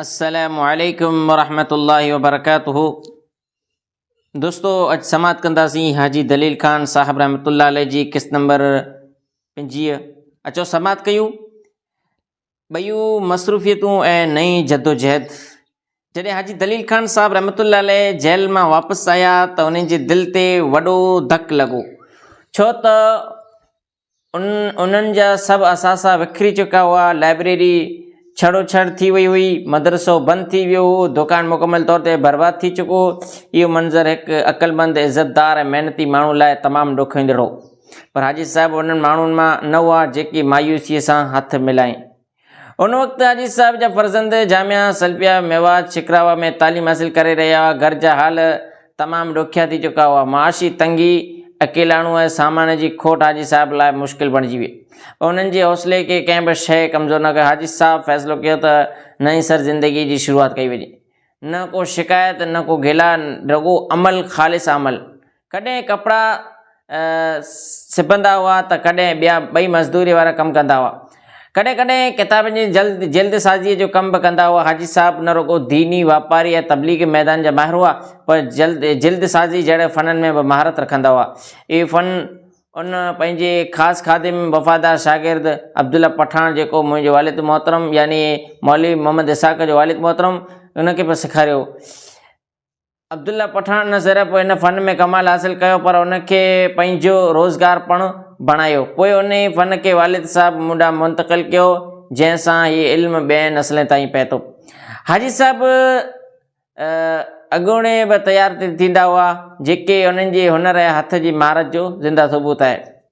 السلام عليڪم ورحمة الله وبرڪاته دوستو اڄ سماعت ڪنداسين حاجي دليل خان صاحب رحمت الله عليه جي قسط نمبر پنجويهه اچو سماعت ڪيو ٻيون مصروفيتون ۽ نئين جدوجهد جڏهن حاجي دليل خان صاحب رحمت الله عليه جيل مان واپس آيا ته انهن جي دل تي وڏو ڌڪ لڳو ڇو ته ان انهن جا سڀ اثاثا وکري چڪا هئا، لائبريري ڇڙو ڇڙ ٿي وئي هئي، مدرسو بند ٿي ويو هو، دڪان مڪمل طور تي برباد ٿي چڪو هو. اهو منظر هڪ عقلمند، عزتدار ۽ محنتي ماڻهو لاء تمام ڏکوئيندڙ هو. پر حاجي صاحب انهن ماڻهن مان نه هئا جيڪي مايوسيء سان هٿ ملائين. ان وقت حاجي صاحب جا فرزند جامعه سلفيه ميوات شڪراوا ۾ تعليم حاصل ڪري رهيا هئا. گهر جا حال تمام ڏکيا ٿي چڪا هئا. معاشي تنگي، اڪيلاڻو ۽ سامان جي کوٽ حاجي صاحب لاء مشڪل بڻجي ويئي. پر انهن جي حوصلي کي ڪنهن به شيء ڪمزور نه ڪيو. حاجي صاحب فيصلو ڪيو ته نئين سر زندگيء جي شروعات ڪئي وڃي. نه ڪو شڪايت نه ڪو گلا رڳو عمل خالص عمل. ڪڏهن ڪپڙا سبندا هئا ته ڪڏهن ٻيا ٻئي مزدوريء وارا ڪم ڪندا هئا. ڪڏهن ڪڏهن ڪتابن جي جلد جلد سازيء جو ڪم به ڪندا هئا. حاجي صاحب نه رڳو ديني، واپاري ۽ تبليغي ميدان جا ماهر هئا، پر جلد جلد سازيء جهڙن فنن ۾ به مهارت رکندا هئا. اهي فن ان پنهنجي خاص خادم، وفادار شاگرد عبدالله پٺاڻ جيڪو منهنجي والد محترم يعني مولوي محمد اسحاق جو والد محترم ان کي به سيکاريو. عبدالله پٺاڻ نه صرف ان فن ۾ ڪمال حاصل ڪيو پر ان کي پنهنجو روزگار پڻ بڻايو. پوء انهيء فن کي والد صاحب مون ڏانهن منتقل ڪيو، جنهن سان هي علم ٻين نسلين تائين پهتو. حاجي صاحب اڳوڻي به تيار ٿيندا هئا، جيڪي انهن جي هنر ۽ هٿ جي مهارت جو زنده ثبوت آهي.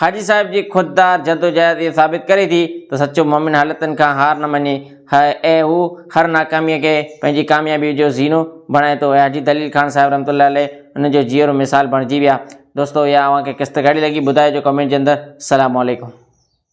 حاجي صاحب جي خوددار جدوجهد اهو ثابت ڪري ٿي ته سچو مؤمن حالتن کان هار نه مڃي ۽ هو هر ناڪاميء کي پنهنجي ڪاميابيء جو زينو بڻائي ٿو. حاجي دليل خان صاحب رحمة الله عليه ان جو جيئرو مثال بڻجي ويا. دوستو اها اوهان کي قسط ڪهڙي لڳي ٻڌائجو ڪمينٽ جي اندر. السلام عليڪم.